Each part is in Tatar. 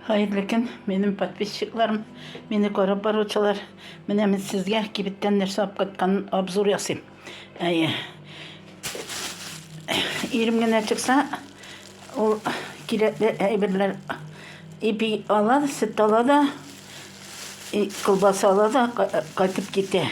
Хәерле көн, минем подписчикларым, мине карап баручылар. Менә мин сезгә кибеттән нәрсә алып кайткан обзор ясыйм. Әйе. Ирем генә чыкса, ул кирәкле әйберләр ипи ала, сөт ала да, колбаса ала да кайтып китә.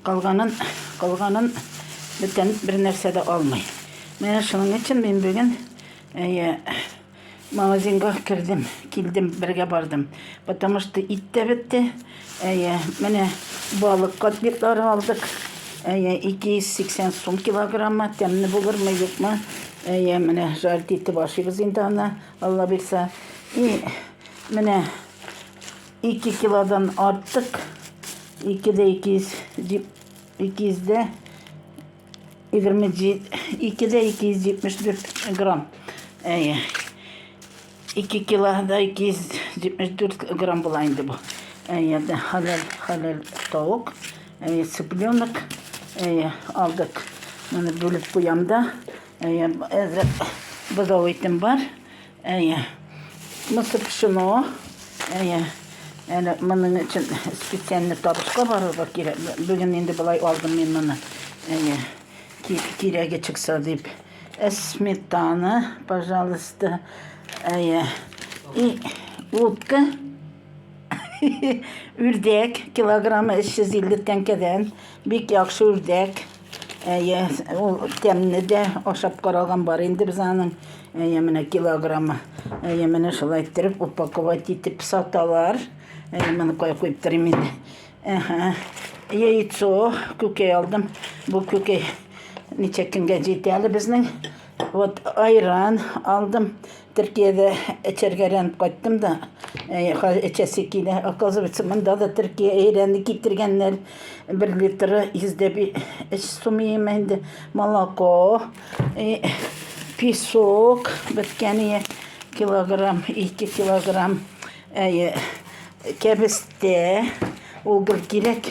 Калганын, калганын бүтән бер нәрсә дә алмый. Менә шуның өчен мин бүген әйе Магазинга кердем, килдем, бергә бардым. Потому что ит тә бетте. Әйе, менә балык котлетлары алдык. Әйе, 280 сум килограмма. Тәмле булырмы, юкмы? Әйе, менә жарт итеп ашыйбыз инде аны, Алла бирсә. И менә 2 килодан артык. 2 дә 200, 200 дә 2 дә 274 грамм. Әйе. 2 килода 274 грамм була инде бу. Әйе, дә халал, халал тавык. Әйе, цыпленок. Әйе, алдык. Моны бүлеп куям да. Әйе, әзер бозау итем бар. Әйе. Мысы пшено. Әйе. Әле моның өчен специальный табышка барырга кирәк. Бүген инде болай алдым мин моны. Әйе. Кирәге чыкса дип. Ә сметана, пожалуйста. Әйе. И утка үрдәк килограммы 350 тәңкәдән. Бик яхшы үрдәк. Әйе, ул тәмне дә ашап караган бар инде без аның. Әйе, менә килограммы. Әйе, менә шулай иттереп упаковать итеп саталар. Әйе, моны кая куеп торыйм инде. Әһә. Яйцо күкәй алдым. Бу күкәй ничә көнгә җитә әле безнең Вот айран алдым. Төркиядә эчәргәрәнеп кайттым да, эчәсе килә. Оказывается, монда да Төркия әйрәне китергәннәр. Бер литры 105 сум ема инде. Молоко, песок, беткәне килограмм, 2 килограмм. Кәбестә, угол кирәк.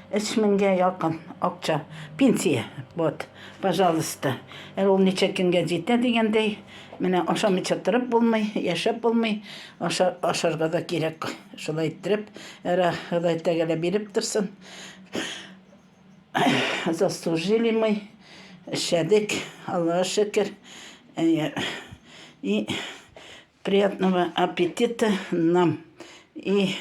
Өч меңгә якын акча, пенсия. Вот, пожалуйста. Ә ул ничә көнгә җитә дигәндәй, менә ашамыйча торып булмый, яшәп булмый, аша, ашарга да кирәк. Шулай иттереп, әрә Ходай тәгәлә биреп торсын. Заслужили мы, эшләдек, Аллага шөкер. И Приятного аппетита нам и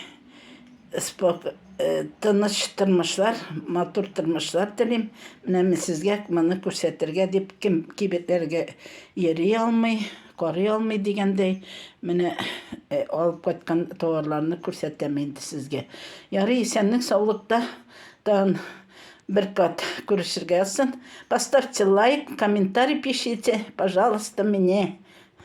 спок... Э, тыныч тормышлар, матур тормышлар телим. Менә мин сезгә моны күрсәтергә дип кем кибетләргә йөри алмый, карый алмый дигәндәй, менә э, алып кайткан товарларны күрсәтәм инде сезгә. Ярый, исәнлек саулыкта тан бер кат күрешергә язсын. Поставьте лайк, комментарий пишите, пожалуйста, мне.